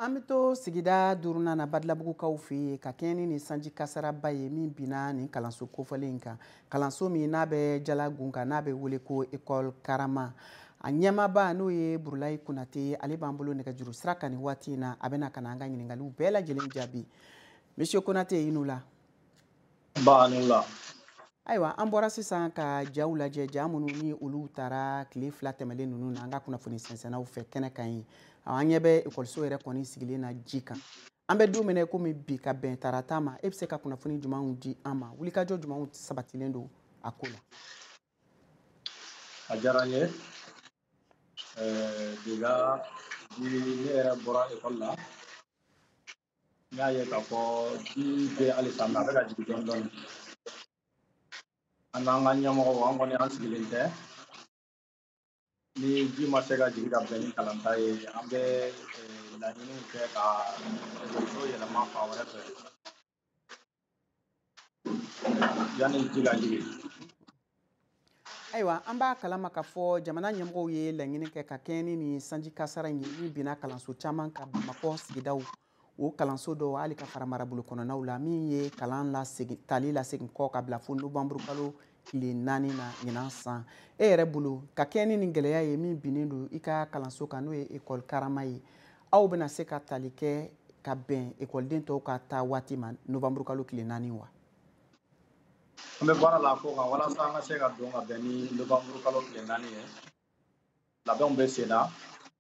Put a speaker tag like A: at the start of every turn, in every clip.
A: an bɛ to sigida duurunan na badalabugukaw fɛ yen ka kɛɲɛ ni nin sanji kasaraba ye min binna nin kalanso kofɔlen in kan kalanso min n'a bɛ jala gun kan n'a bɛ wele ko ekɔli karama a ɲɛmaaba n'o ye burulayi konate ale b'an bolo nɛgɛjuru sira kan nin waati in na a bɛna ka na an ka ɲininkaliw bɛɛ lajɛlen jaabi monsieur konate i ni wula
B: ayiwa
A: an bɔra sisan ka jaw lajɛ ja minnu ni olu tara tile fila tɛmɛlen ninnu na an ka kunnafoni sɛnsɛnnaw fɛ kɛnɛ kan yen an ɲɛ bɛ ekɔliso yɛrɛ kɔni sigilen na ji kan an bɛ don min na komi bi ka bɛn tarata ma e bɛ se ka kunnafoni jumɛnw di an ma wulikajɔ jumɛnw sabatilen don a ko la
B: a diyara n ye déjà ni ne yɛrɛ bɔra ekɔli la n y'a ye k'a fɔ ji bɛ halisa mais a bɛ ka jigin dɔɔni dɔɔni an n'an ka ɲɛmɔgɔw an kɔni an sigilen tɛ ni ji ma se ka jigin ka bɛn ni kalanta ye an bɛ eh, laɲiniw kɛ ka so yɛlɛma fan wɛrɛ fɛ
A: ayiwa an b'a kalama k'a fɔ jamana ɲɛmɔgɔw ye laɲini kɛ ka kɛɲɛ ni nin sanji kasara ye min binna kalanso caman kan bamakɔ sigidaw o kalanso dɔw hali ka fara marabolo kɔnɔnaw la min ye kalan lasegin tali lasegin kɔ ka bila fo nowanburukalo tile naani na ɲinan san e yɛrɛ bolo ka kɛɲɛ ni nin gɛlɛya ye min binnen don i ka kalanso kan n'o ye ekɔli karama ye aw bɛna se ka tali kɛ ka bɛn ekɔliden tɔw ka ta waati ma novanburu kalo tile naani
B: wa an bɛ baara la ko kan walasa an ka se ka don ka bɛn ni novanburu kalo tile naani ye labɛnw bɛ sen na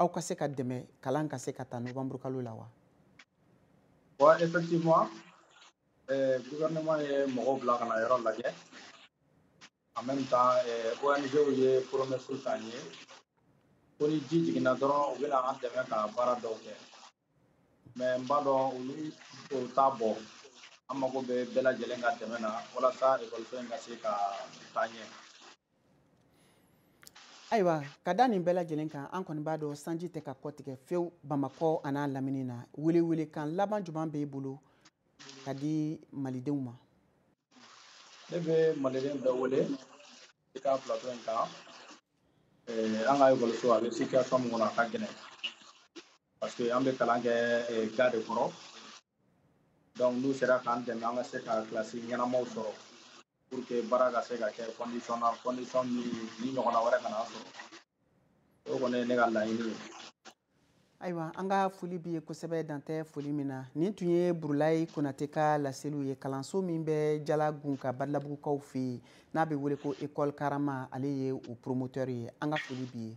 A: aw ka se ka dɛmɛ kalan ka se ka ta novembre kalo la
B: wa wa effectivement eh, gouvernement ye mɔgɔw bila ka na yɔrɔ lajɛ en même temps eh, ONGw ye promesse t'an ye ko ni ji jiginna dɔrɔn u bɛna an dɛmɛ ka baara dɔw kɛ mais n b'a dɔn olu o t'a bɔ an mago bɛ bɛɛ lajɛlen ka dɛmɛ na walasa ekɔliso in ka se ka taa ɲɛ
A: ayiwa ka da nin bɛɛ lajɛlen kan an kɔni b'a dɔn sanji tɛ ka kɔtigɛ fewu bamakɔ an'a lamini na welewelekan laban juman b'e bolo ka di malidenw ma
B: ne bɛ maliden bɛɛ wele i ka plateau in kan eh, an ka ekɔliso a bɛ situation min kɔnɔ a ka gɛlɛn parce que an bɛ kalan kɛ eh, ga de kɔrɔ donc n'u sera k'an dɛmɛ an ka se ka kilasi ɲɛnamaw sɔrɔ pour que baara ka se ka kɛ condition na condition min ni ɲɔgɔnna wɛrɛ kana sɔrɔ o kɔni ye ne ka laɲini ye ayiwa
A: an ka foli b'i ye kosɛbɛ dan tɛ foli min na nin tun ye burulayi konate ka laseliw ye kalanso min bɛ jalagun kan badalabugukaw fɛ yen n'a bɛ wele ko ekɔli karama ale ye o promoteur ye an ka foli b'i ye